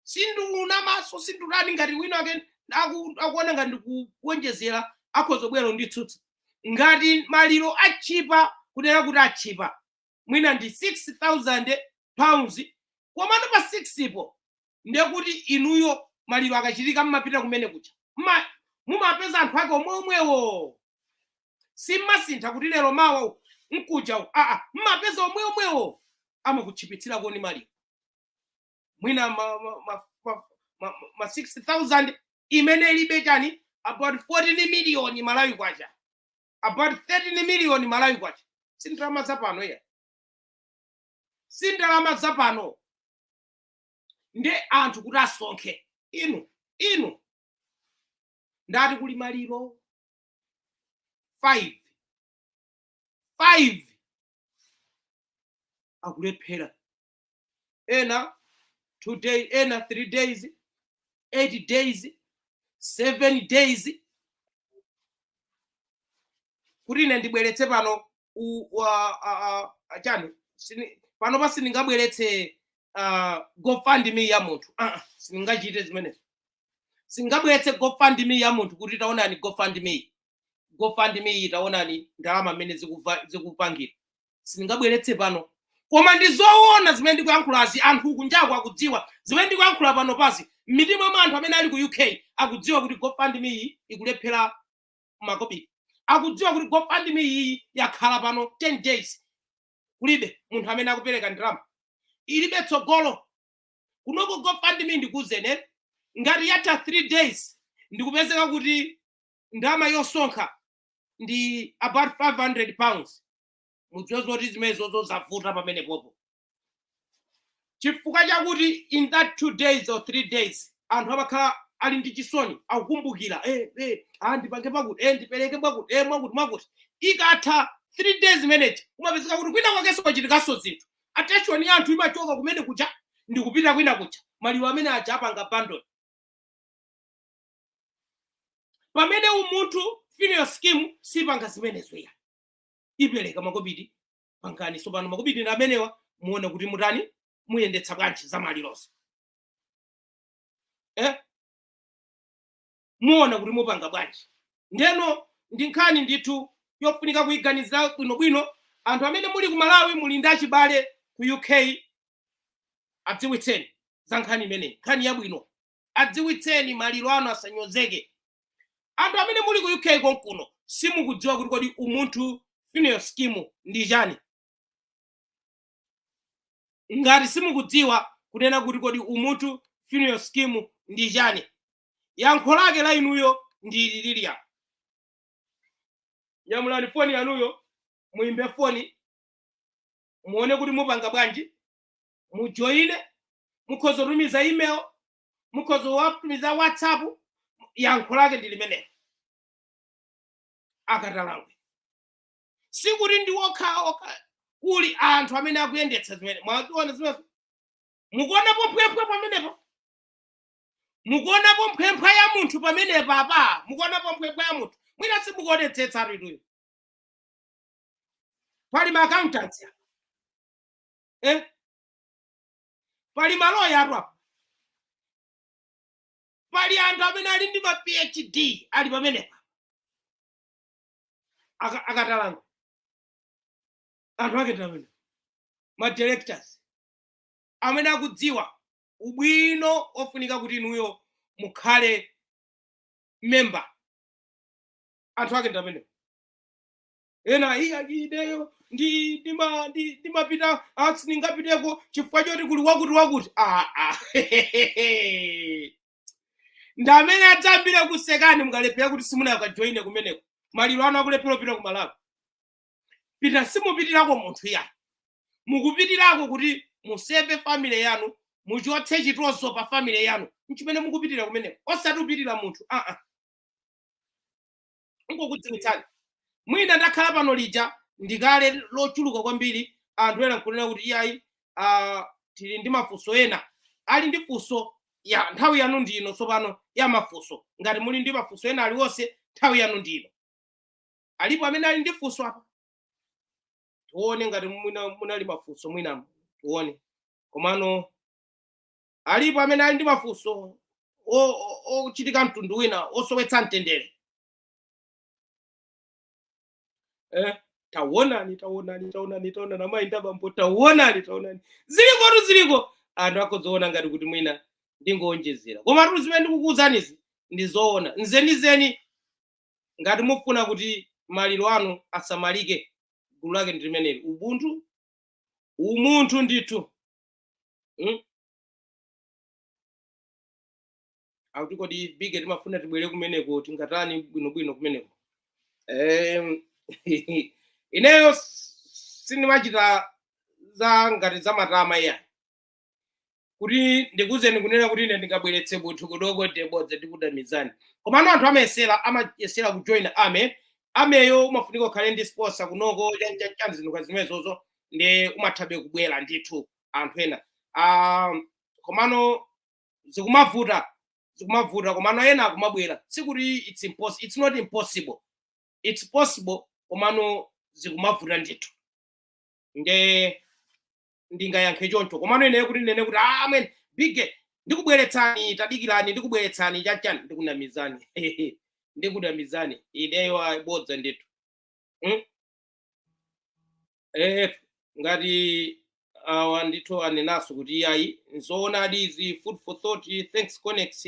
sindiuna maso sindulani ngati wina ake aku- akuona ngati ndikuonjezera akhoza kubwera kunditsutsa ngati maliro atchipa kunena kuti atchipa mwina ndi 6000 pounds komano pa 6 po ndekuti inuyo maliro akachitika mmapita kumene kuja Mma- mumapeza anthu ake omwe omwewo simmasintha kuti lero mawa u- mkuja u- aa mmapeza omwe omwewo amakutchipitsirani koma maliro mwina ma 6000 imene ili chani about 14 million malawi kwacha about 13 million malawi kwacha si ndalama zapano iyayi si ndalama zapano nde anthu kuti asonkhe inu inu mutati kuli maliro 5 5 akulephera ena two day ena three days eight days seven days kuti ine ndibweretse pano u- wa- a- a- a- chani sini- panopa sindingabweretse uh, gofundme ya munthu uh -uh, sindingachite zimenezo sindingabweretse gofundme ya munthu kuti taonani gofundme gofundme iyi taonani ndalama mmene zikuva- zikupangira sindingabweretse pano koma ndi zoona zimene ndikuyankhulazi anthu kunjaku akudziwa zimene ndikuyankhula panopazi m'mitima mwa anthu amene ali ku uk akudziwa kuti gofundme iyi ikulephera makobiri akudziwa kuti gofundme iyi yakhala pano 10 days kulibe munthu amene akupereka ndalama ilibe tsogolo kunoko gofundme ndikuuzeni ngati yatha 3 days ndikupezeka kuti ndalama yosonkha ndi about 500 pounds mudziwe zoti zimenezo zozavuta pamenepopo chifukwa chakuti in that two days or three days anthu amakhala ali ndi chisoni akukumbukira eh, eh, ah, ndipange pakuti eh, ndipereke pakuti eh, mwakuti mwakuti ikatha three days imeneji umapezeka kuti kwina kwakenso kwachitikanso zinthu attention ya anthu imachoka kumene kuja ndikupita kwina kuja maliro amene aja apanga abandon pamene umunthu funeral scheme sipanga zimenezo iyayi ipereka makobiri pangani tsopano makobiri ndi amenewa muone kuti mutani muyendetsa bwanji za malirozo eh? muona kuti mupanga bwanji ndeno ndi nkhani ndithu yofunika kuyiganizira bwinobwino anthu amene muli ku malawi muli ndi achibale ku uk adziwitseni za nkhani imeneyi nkhani yabwino adziwitseni maliro anu asanyozeke anthu amene muli ku uk konkuno simukudziwa kuti kodi umunthu funeral scheme ndi chani ngati simukudziwa kunena kuti kodi umunthu funeral scheme ndi chani yankho lake la inuyo ndi ililiya nyamulani foni yanuyo muimbe foni muone kuti mupanga bwanji mujoine mukhoza kutumiza email mukhoza kutumiza whatsapp yankho lake ndi limenelo akatalangwe sikuti ndi okha okha kuli anthu amene akuyendetsa zimene mwaziona zimezo mukuonapo mphwemphwa pamenepa mukuonapo mphwemphwa ya munthu pamenepa apa mukuonapo mphwemphwa ya munthu mwina simukuonetsetsa atuituyo pali maakauntanti eh? pali maloyatu apa pali anthu amene ali ndi ma phd ali pamenepa Aka- akatalangwe anthu ake ndi amenewa ma directors amene akudziwa ubwino ofunika kuti inuyo mukhale member anthu ake ndi amenewa ena ayi ayi ineyo ndi ndima- ndi- ndimapita ah, sindingapiteko chifukwa choti kuli wakuti wakuti ah, ah. ndi amene adzayambire kukusekani mukalephera kuti simunakajoine kumeneko maliro anu akulephera kupita ku malawi pita simupitirako munthu yayi mukupitirako kuti museve family yanu muchotse chitonzo pa family yanu nchimene mukupitira kumeneko osati kupitira munthu aa nkukudziwitsani mwina ndakhala pano lija ndikale lochulukira kwambiri anthu ena nkunena kuti iyayi ah, tili ndi mafunso ena ali ndi funso ya nthawi yanu ndino tsopano ya mafunso ngati muli ndi mafunso ena aliwonse nthawi yanu ndino alipo amene ali ndi funso apa tione ngati mwina munali mafunso mwina tione komano alipo amene ali ndi mafunso o- o- ochitika mtundu wina osowetsa mtendere eh, tawonani tawonani tawonani tawonani amayi ndi abambo tawonani tawonani zilikotu ziliko anthu akhoza kuona ngati kuti mwina ndingowonjezera koma tu zimene ndikukuwuzanizi ndi zoona zenizeni ngati mufuna kuti maliro anu asamalike gulu lake ndi limeneli ubuntu umunthu ndithu Hmm? akuti kodi bige timafuna tibwere kumeneko tingatani bwinobwino kumeneko Em, ineyo s- sindimachita za ngati za matama iya kuti ndikuzeni kunena kuti ine ndingabweretse munthu kunoko ndi bodza ndikunamizani komano anthu amayesera amayesera kujoin army armyyo umafunika ukhale ndi sponsor kunoko chanichani zinthu zimenezozo nde umathabe kubwera ndithu anthu ena Ah, komano zikumavuta zikumavuta komano ena akumabwera sikuti it's impossible it's not impossible it's possible komano zikumavuta ndithu nde ndingayankhe choncho komano ineyo kuti ndinene kuti "Ah, amwene bige ndikubweretsani tadikirani ndikubweretsani chanichani ndikunamizani ndikunamizani ineyo ayi bodza ndithu Mm? eh, ngati awa ndithu anenaso kuti iyayi nzoonadi izi food for thought thanks conex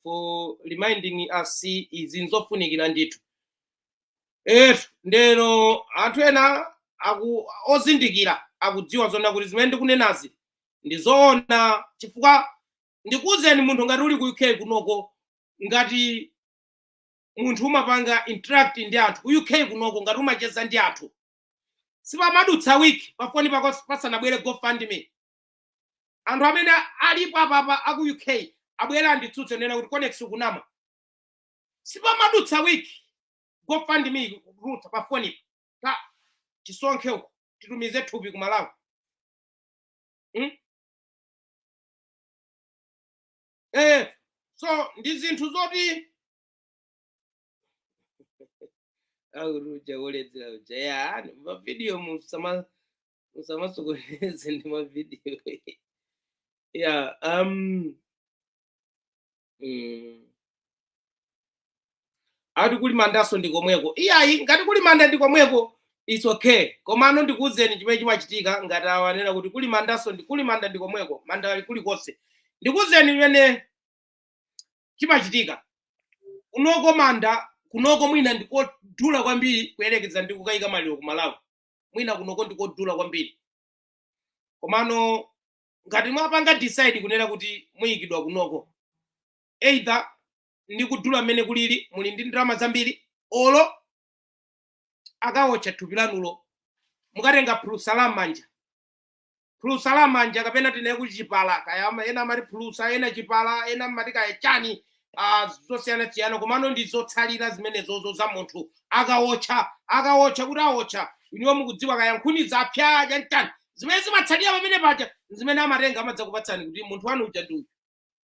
for reminding us izi nzofunikira ndithu etu ndeno anthu ena aku ozindikira akudziwa zoona kuti zimene ndikunenazi ndi zoona chifukwa ndikuwuzeni munthu ngati uli ku uk kunoko ngati munthu umapanga interact ndi anthu ku uk kunoko ngati umacheza ndi anthu sipamadutsa wiki pafoni pako pasanabwere gofundme anthu amene alipo apapa aku uk abwera anditsutse anena kuti conex ukunama sipamadutsa wiki gofundme ikutuluka pafoni pa tisonkhe uko titumize thupi ku malawi hmm? eh, so ndi zinthu zoti akuti uja woledzera uja ya mavidiyo musama musamasokoneze ndi mavidiyo ya um, mm, akuti kuli mandanso ndi komweko iyayi ngati kuli manda ndi komweko its okay komano ndikuwuzeni chimene chimachitika ngati awa anena kuti kuli mandanso ndi kuli manda ndi komweko manda ali kulikonse ndikuwuzeni chimene chimachitika kunoko manda kunoko mwina ndikodula kwambiri kuyerekeza ndi kukayika maliro ku malawi mwina kunoko ndikodula kwambiri komano ngati mwapanga decide kunena kuti muyikidwa kunoko either ndi kudula mmene kulili muli ndi ndalama zambiri olo akawotcha thupi lanulo mukatenga phulusa la manja phulusa la manja kapena tinene kuti chipala kaya ama- ena amati phulusa ena chipala ena amati kaya chani ah, zosiyanasiyana komano ndi zotsalira zimenezozo za munthu akawotcha akawotcha kuti awotcha iniwo mukudziwa kaya nkhuni zapya chanichani zimene zimatsalira pamene paja zimene amatenga amadzakupatsani kuti munthu wanu uja ndi uyu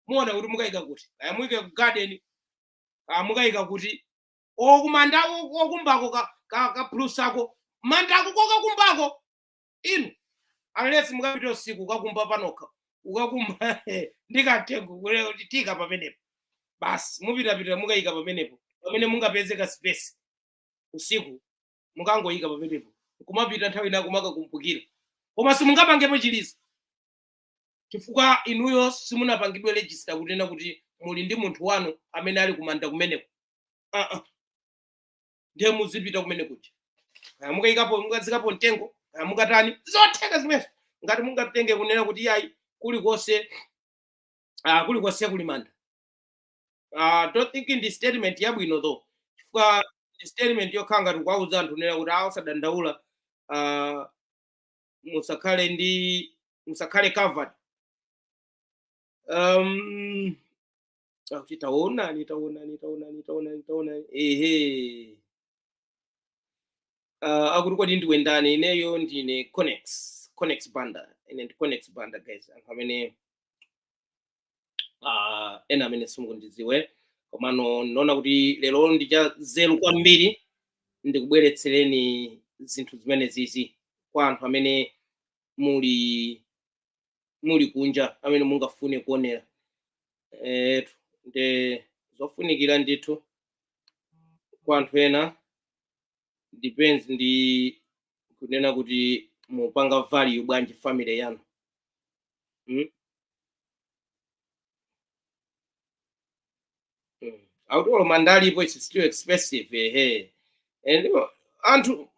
muone kuti mukayika kuti kaya muyike ku garden kaya mukayika kuti kumanda kokumbako ka- ka- kaphulusako mandako kokakumbako inu unless mukapita usiku ukakumba panokha ukakumba ndi katengo kule- tika pamenepo basi mupitapita mukayika pamenepo pamene mungapeze ka space usiku mukangoyika pamenepo kumapita nthawi ina kumakakumbukira koma simungapangepo chilizo chifukwa inuyo simunapangidwe register kunena kuti muli ndi munthu wanu amene ali kumanda kumeneko uh -uh. ndiye muzipita kumene kuja kaya mukayikapo mukazikapo mtengo kaya mukatani zotheka zimenezo ngati mungatenge kunena kuti yayi kulikonse uh, kulikonse kuli manda uh, don't think ndi statement yabwino though chifukwa ndi statement yokhala ngati kuwauza anthu kunena kuti awo sadandaula uh, musakhale ndi musakhale covered um, akuti taonani taonani taonani taonani taonani ehe uh, akuti kodi ndiwe ndani ineyo ndine conex conex banda ine ndi conex banda guys anthu amene uh, ena amene simukundidziwa komano ndinaona kuti lero ndi cha nzeru kwambiri ndikubweretsereni zinthu zimene zizi kwa anthu amene muli muli kunja amene mungafune kuonera eh, nde zofunikira ndithu kwa anthu ena depends ndi kunena kuti mupanga value bwanji family yanu mm? Mm. akuti olo mandalipo it's still expensive ehe and uh, anthu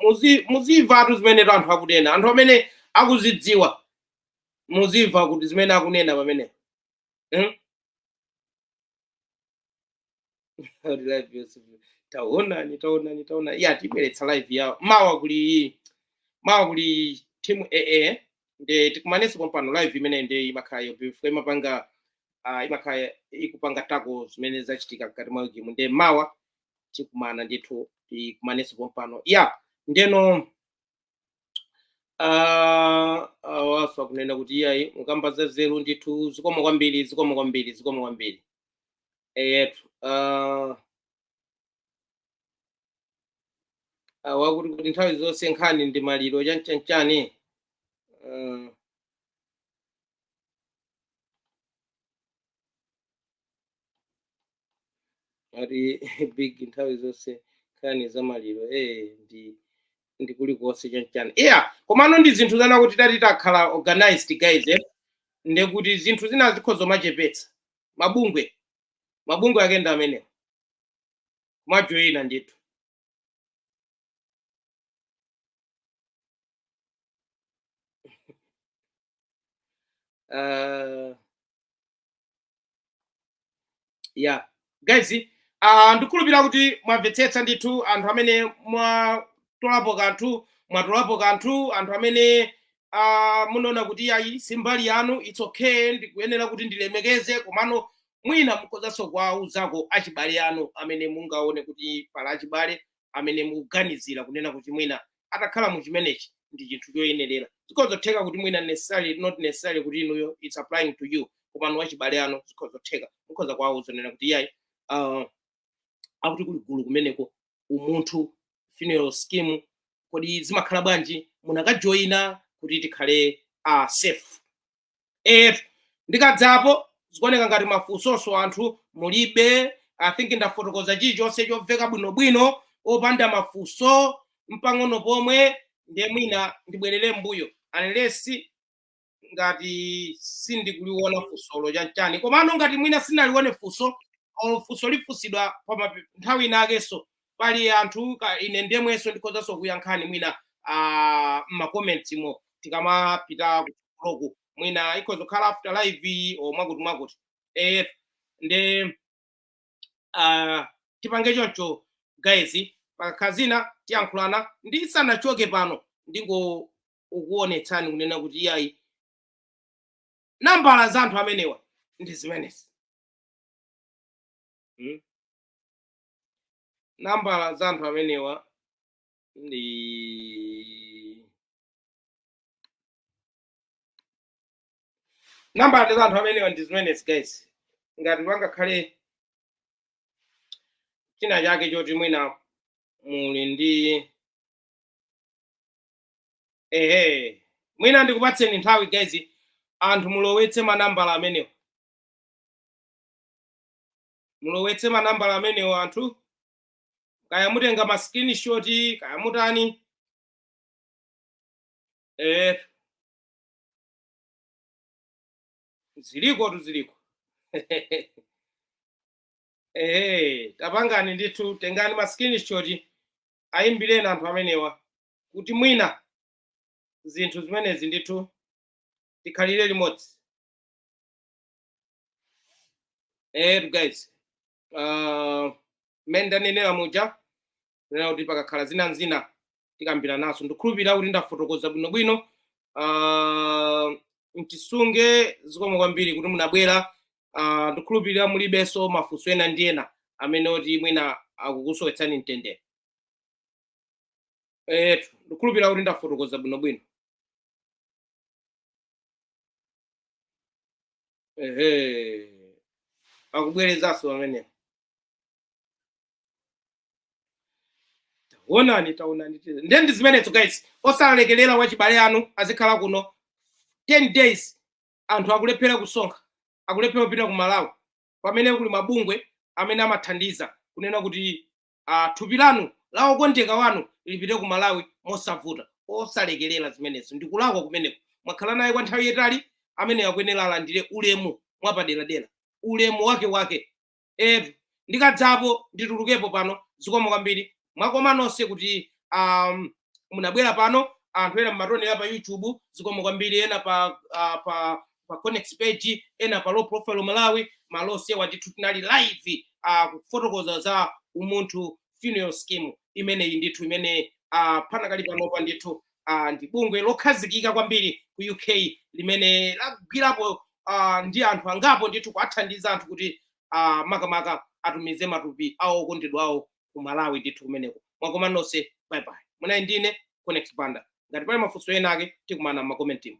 muzi- muzimvatu zimenetu anthu akunena anthu amene akuzidziwa muzimva kuti zimene akunena pamene mm? live yonse taonani taonani taonani ya tibweretsa live yawo mawa kuli mawa kuli timu ee nde tikumanenso pompano live imene nde imakhala yobvuta imapanga uh, imakhala ikupanga tackle zimene zachitika mkati mwa game nde mawa tikumana ndithu tikumanenso pompano ya ndeno Ah, awanso akunena kuti iyayi mukamba za zeru ndithu zikomo kwambiri zikomo kwambiri zikomo kwambiri eyetu ah, awa kuti kuti nthawi zonse nkhani ndi maliro chanchanchani Ah, ati big nthawi zonse nkhani za maliro eh ndi ndi kulikonse chanchani yeah komano ndi zinthu zonena kuti titati takhala organized guys eh nde kuti zinthu zina zikhoza kumachepetsa mabungwe mabungwe ake ndi amenewa kumajoyina ndithu uh, yeah guys uh, ndikhulupirira kuti mwamvetsetsa ndithu anthu amene mwatolapo kanthu mwatolapo kanthu anthu amene uh, munaona kuti iyayi si mbali yanu its okay ndikuyenera kuti ndilemekeze komano mwina mukhozanso kuwauzako achibale anu amene mungaone kuti pali achibale amene mukuganizira kunena kuti mwina atakhala mu chimenechi ndi chinthu choyenerera zikhoza kutheka kuti mwina necessarily not necessarily kuti inuyo it's applying to you komano wachibale wanu zikhoza kutheka mukhoza kuwauza kunena kuti iyayi uh, akuti kuli gulu kumeneko umunthu funeral scheme kodi zimakhala bwanji munakajoyina kuti tikhale uh, safe eh ndikadzapo zikuoneka ngati mafunsonso anthu mulibe i think ndafotokoza chilichonse chomveka bwinobwino opanda mafunso mpang'ono pomwe ndiye mwina ndibwerere mbuyo unless ngati sindikuliona funsolo chanchani komano ngati mwina sinalione funso or funso lifunsidwa pa mape- nthawi inakenso pali anthu ka ine ndemwenso ndikhozanso kuyankhani mwina ah, m'macomments mo tikamapita kuloku mwina ikhoza kukhala after live iyi or mwakuti mwakuti eh, nde ah, tipange choncho guys pakakhala zina tiyankhulana ndisanachoke pano ndingokuonetsani kunena kuti iyayi nambala za anthu amenewa ndi zimenezi mm? nambala za anthu amenewa ndi nambala za anthu amenewa ndi zimenezi guys ngati pangakhale china chake choti mwina muli ndi ehe mwina ndikupatseni nthawi guys anthu mulowetse manambala amenewa mulowetse manambala amenewa anthu kaya mutenga ma screenshot kaya mutani eh zilikotu ziliko eh tapangani ndithu tengani ma screenshot ayimbireni anthu amenewa kuti mwina zinthu zimenezi ndithu tikhalire limodzi etu guys uh, mmene ndanenera muja nena kuti pakakhala zina n'zina tikambira naso ndikhulupirira kuti ndafotokoza bwinobwino uh, mtisunge zikomo kwambiri kuti munabwera uh, ndikhulupirira mulibenso mafunso ena ndi ena amene oti mwina akukusowetsani mtendere etu ndikhulupirira kuti ndafotokoza bwinobwino ehe akubwerezanso pamenepo taonani taonani tira. ndiye ndi zimenezo guys osalekerera wachibale wanu azikhala kuno 10 days anthu akulephera kusonkha akulephera kupita ku malawi pamene kuli mabungwe amene amathandiza kunena kuti uh, thupi lanu la okondedwa wanu lipite ku malawi mosavuta osalekerera zimenezo ndikulakwa kumeneko mwakhala naye kwa nthawi yetali amene akuyenera alandire ulemu mwapaderadera ulemu wake wake etu ndikazipo nditulukepo pano zikomo kwambiri mwakoma nonse kuti um, munabwera pano anthu ena mmatonera pa youtube zikomo kwambiri ena pa uh, pa pa connect page ena pa low profile malawi malosewa ndithu tinali live uh, kufotokoza za umunthu funeral scheme imeneyi ndithu imene uh, panakali panopa ndithu uh, ndi bungwe lokhazikika kwambiri ku uk limene lagwirapo uh, ndi anthu angapo ndithu kuathandiza anthu kuti uh, makamaka atumize matupi awo okondedwa awo ku malawi ndithu kumeneko mwakoma nonse bye bye munali ndine connect banda ngati pali mafunso ena ake tikumana m'makomentimu